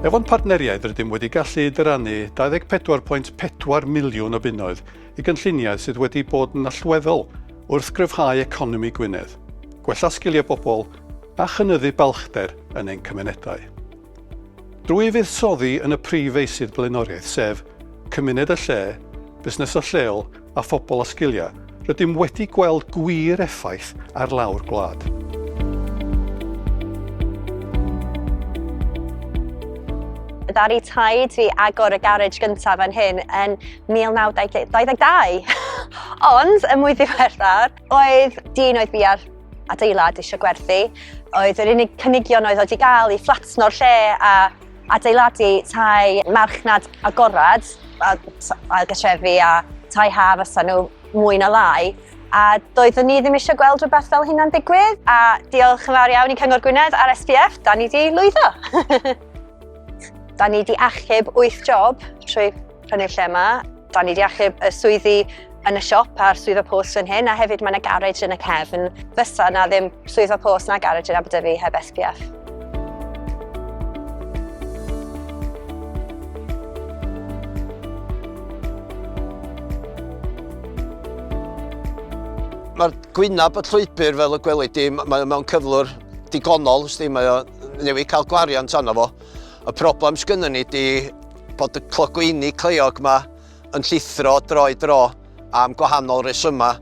Efo'n partneriaid rydym wedi gallu dyrannu 24.4 miliwn o bunnoedd i gynlluniau sydd wedi bod yn allweddol wrth gryfhau economi Gwynedd, gwella sgiliau bobl a chynyddu balchder yn ein cymunedau. Drwy fuddsoddi yn y prif feysydd blaenoriaeth sef, cymuned a lle, busnesau lleol a phobl â sgiliau, rydym wedi gweld gwir effaith ar lawr gwlad. Ddaru taid fi agor y garej gyntaf fan hyn yn 1922. Ond, y mwy ddiweddar, oedd dyn oedd fi ar adeilad eisiau gwerthu, oedd yr unig cynigion oedd oedd i gael i fflatno'r lle a Adeiladu tai marchnad agored, a ailgatrefi a tai ha fysa nhw mwy na lai, a doeddwn ni ddim eisiau gweld rhywbeth fel hynna'n digwydd, a diolch yn fawr iawn i Cyngor Gwynedd a'r SPF, da ni di lwyddo! da ni di achub 8 job trwy yn y lle yma. Da ni wedi achub y swyddi yn y siop a'r swyddfa post fan hyn, a hefyd mae yna garej yn y cefn. Fysa na ddim swyddfa post na garej yn Aberdyfi heb SPF. Mae'r gwynab y llwybr fel y gwelid di, mae mewn cyflwr digonol, sti, mae o newydd cael gwariant arno fo. Y problem sgynny ni di Bod y clogwyni cleiog yma yn llithro droi dro am gwahanol resymau.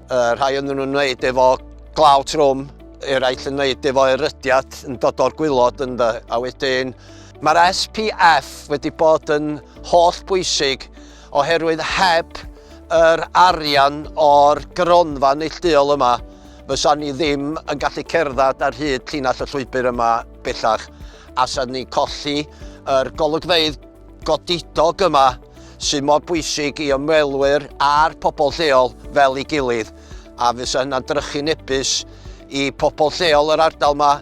Uh, rhai yn nhw'n wneud efo glaw trwm, eraill yn wneud efo erydiad yn dod o'r gwylod ynddo. A wedyn, mae'r SPF wedi bod yn holl bwysig oherwydd heb yr arian o'r gronfa neillduol yma, fysa ni ddim yn gallu cerdded ar hyd llinell y llwybr yma bellach. allan ni colli yr golygfeydd godidog yma sydd mor bwysig i ymwelwyr a'r pobl lleol fel ei gilydd a fysa hynna'n drychu nebus i pobl lleol yr ardal yma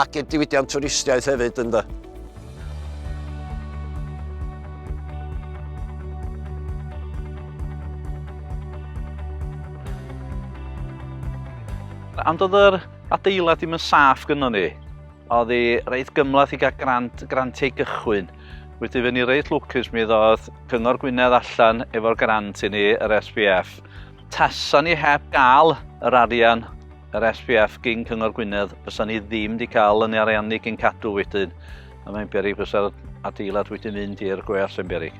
ac i'r diwydiant twristiaeth hefyd ynddo. Ond oedd yr adeilad ddim yn saff gynnon ni. Oedd hi reit gymlath i gael grant, grantiau gychwyn. Wedi fyny reit lwcus mi ddodd Cyngor Gwynedd allan efo'r grant i ni, yr SPF. Tasa ni heb gael yr arian, yr SPF gyn Cyngor Gwynedd, fysa ni ddim wedi cael yn ariannu gyn cadw wedyn. A mae'n berig fysa'r adeilad wedi mynd i'r gweall yn berig.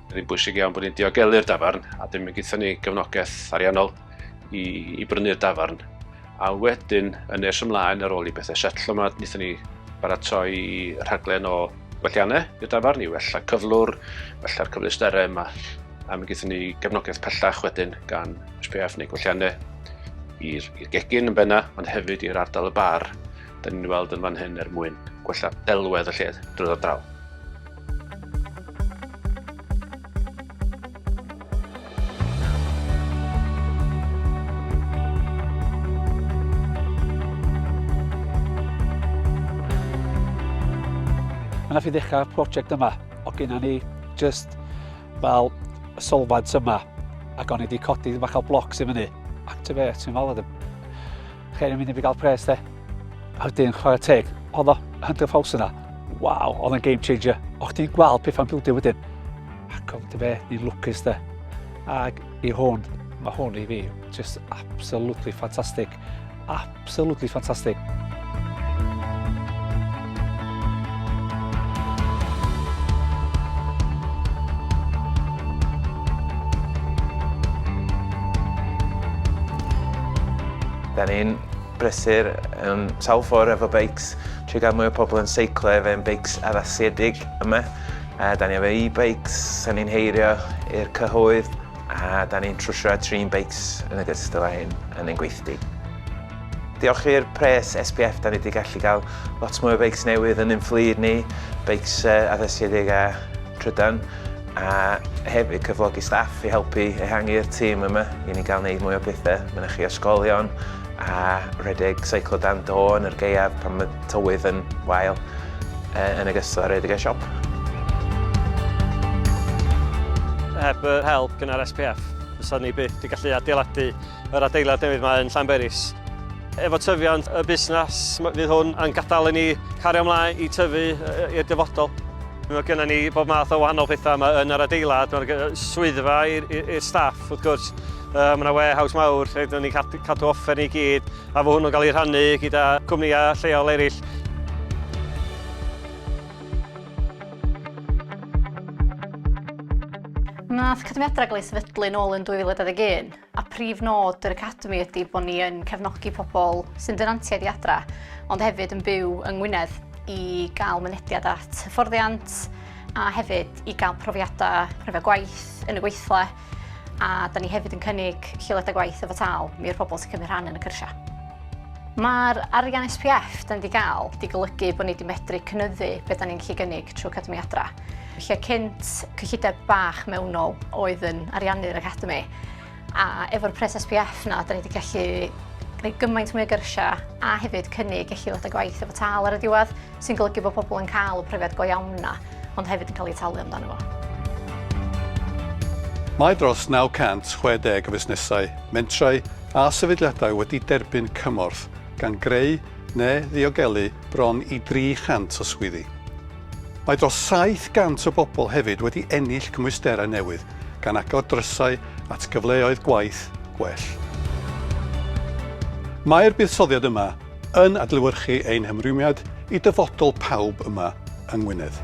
Mae'n rhy bwysig iawn bod ni'n diogelu'r dafarn a dim yn gyda ni gefnogaeth ariannol i, i brynu'r dafarn. A wedyn, yn nes ymlaen ar ôl i bethau setlo yma, wnaethon ni baratoi rhaglen o gwelliannau i'r dafarn i wella cyflwr, wella'r cyfleusterau yma. A mi gyda ni gefnogaeth pellach wedyn gan SPF neu gwelliannau i'r gegin yn benna, ond hefyd i'r ardal y bar, da ni'n weld yn fan hyn er mwyn gwella delwedd y lle drwy'r draw. Mae yna fi ddechrau prosiect yma, o gyna ni just fel y solfad yma, ac o'n i wedi codi bach o blocs i fyny. Activate, ti'n fel, Chei ddim mynd i fi gael pres de. A wedyn, chwarae teg, oedd o 100 ffaws yna. Waw, oedd yn game changer. O chdi'n gweld pethau'n bildio wedyn. Ac oedd dy fe, ni'n lwcus de. Ac i hwn, mae hwn i fi, just absolutely fantastic. Absolutely fantastic. Da ni'n brysur um, sawl ffordd efo beics, trwy gael mwy o pobl yn seiclo efo ein beics addasiedig yma. A da ni efo e-bikes, da ni'n heirio i'r cyhoedd, a da ni'n trwsio a trin beics yn y gystal â hyn yn ein gweithdy. Diolch i'r pres SPF da ni wedi gallu cael lot mwy o beics newydd yn ein fflyd ni, beics addasiedig a trydan, a hefyd cyflogi staff i helpu ehangu'r tîm yma i ni gael gwneud mwy o bethau mynychu ysgolion a rhedeg seiclo dan do yn yr gaeaf pan mae tywydd yn wael, yn ogystal â rhedeg y siop. Heb yr help gynnar SPF fysa ni byth wedi gallu adeiladu Yr adeilad newydd mae yn Llanberis. Efo tyfiant y busnes, fydd hwn yn gadael i ni cario ymlaen i tyfu i'r dyfodol. Mae gennym ni bob math o wahanol pethau yma yn yr adeilad. Mae'r swyddfa i'r staff, wrth gwrs. Mae yna warehouse mawr lle dyn ni'n cadw offer ni gyd, a fo hwnnw'n cael ei rhannu gyda cwmnïau lleol eraill. Wnaeth cyfyngiadau gael ei sefydlu nôl yn 2021. a prif nod yr Academi ydy bod ni yn cefnogi pobl sy'n dynantiaid i adra, ond hefyd yn byw yng Ngwynedd i gael mynediad at hyfforddiant a hefyd i gael profiadau rhyfedd gwaith yn y gweithle a da ni hefyd yn cynnig lleoliadau gwaith efo tal mi i'r pobl sy'n cymryd rhan yn y cyrsiau. Mae'r arian SPF da ni wedi cael wedi golygu bod ni wedi medru cynyddu beth da ni'n gallu gynnig trwy Academi Adra. lle cynt cyllideb bach mewnol oedd yn ariannu'r Academi, a efo'r pres SPF na, da ni wedi gallu gwneud gymaint mwy o gyrsiau a hefyd cynnig eich ddod â gwaith efo tal ar y diwedd, sy'n golygu bod pobl yn cael y profiad go iawn na, ond hefyd yn cael ei talu amdano fo. Mae dros 960 o fusnesau, mentrau a sefydliadau wedi derbyn cymorth, gan greu neu ddiogelu bron i 300 o swyddi. Mae dros 700 o bobl hefyd wedi ennill cymwysterau newydd, gan agor drysau at gyfleoedd gwaith gwell. Mae'r buddsoddiad yma yn adlewyrchu ein hymrwymiad i dyfodol pawb yma yng Ngwynedd.